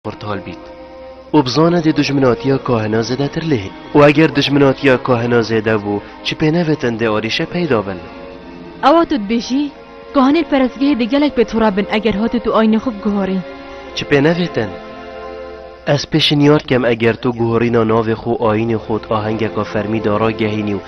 pirtal bît û bi zana dê dijminatiya kahina zêdetir lê hîn û eger dijminatiya kahina zêde bû çi pê nevetin dê arîşe peyda bin. Ewa tu dibêjî kahinên perestgehê dê gelek pê tura bin eger hatû tu ayînê xwe biguherî. Çi pê nevetin ez pêşinyar dikem eger tu guherîna navê xwe û ayînê xwe û di ahengeka fermî de ragehînî û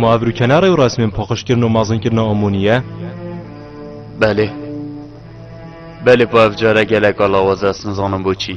Muavir û kenarê û resmên paqijkirin û mazinkirina Omoniye? Belê. Belê po ev care gelek a lawaz e ez nizanim boçî.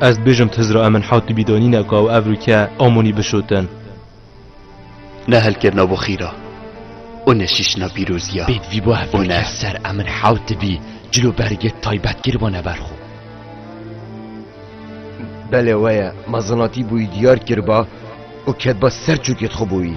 Ez dibêjim tiz ra em min hewt dibîdanîne ka ew evrûke Amonî bişotin. Ne helkirina bo xîr a, û ne şîşina pîrozî a. Pêdivî bo evrûke ser em min hewt divî cilûbergê taybet kiribûne ber xwe. Belê we ye, mezanatî bûyî diyar kiriba û ketiba ser çûkê xwe bûyî.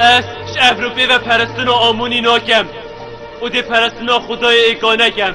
Ez ji Ewropê ve perestina Amonî nakem û dê perestina xwedayê Êkane kem.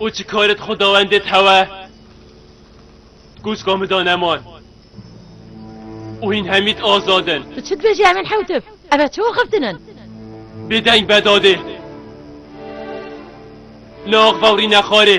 û çi karet xwedawendê thewe kûçka min da neman û hîn hemît azad in. Tu çi dibêjî em ên hewtif? Ev e çi axiftin in? Bêdeng be dadê. Li axvewrîne xarê.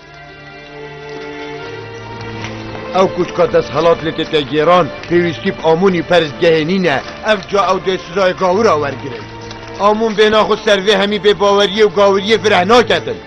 Ew ku dika desthilat lê têke gêran, pêwîstî bi amûn û peristgehê nîne. Ev ca ew dê sizayê gawira wergirin. Amûn bêhna xwe ser vê hemî bêbaweriyê û gawiriyê fireh naketin.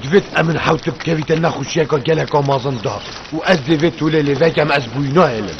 Divêt em min hewt bikevîte nexweşiyeka geleka mezin da û ez dê vê tolê lê vekem ez bûyî nahêlim.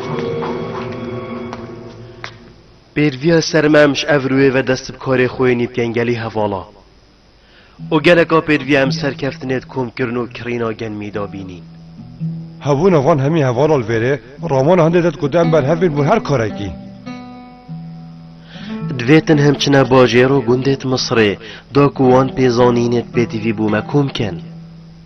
Pêrviya sermem ji ev rûyê ve dest bi karê xwe yê nîvgengelî hevala û geleka pêrviya em serkeftinê di komkirin û kirîna genmî de bînîn. Hebûna van hemî hevala li vêrê ramona hindê de dikot em berhev bên bo her karekî. Divê tin hem çine bajêr û gundê di Misirê de ku wan pê zanînê di pêdivî bû me kom kin.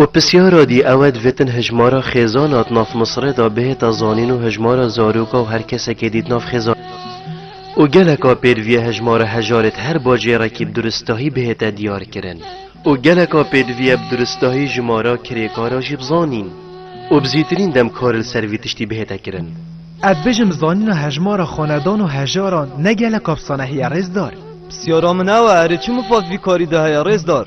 Û pisyara dî ew e divêtin hejmara xêzan a di nav Misirê de bihêta zanîn û hejmara zaroka û her kesekê dî di nav xêzan û geleka pêdivîya hejmara hejarê di her bajêrekî bi duristahî bihête diyarkirin û geleka pêdivîya bi duristahî jimara kirêkara jî bi zanîn û bi zîtirîn dem kar li ser vî tiştî bihête kirin. Ez dibêjim zanîna hejmara xanedan û hejaran ne geleka bi sanahî ye rêzdar? Pisyara min ew e erê çi mifaz vî karî de heye rêzdar?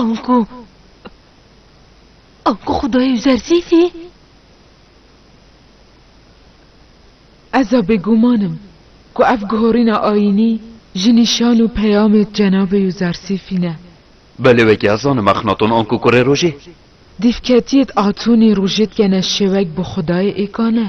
Anku, anku Xwedayê Yuzersîfî? Ez a bêguman im ku ev guhorîna ayînî ji nîşan û peyamê Cenabê Yuzersîfî ne. Belê wekî ez zanim Exnaton anku kurê rojê. Dîvketiyêt Atonî rojê dikene şêwek bi Xwedayê êka ne.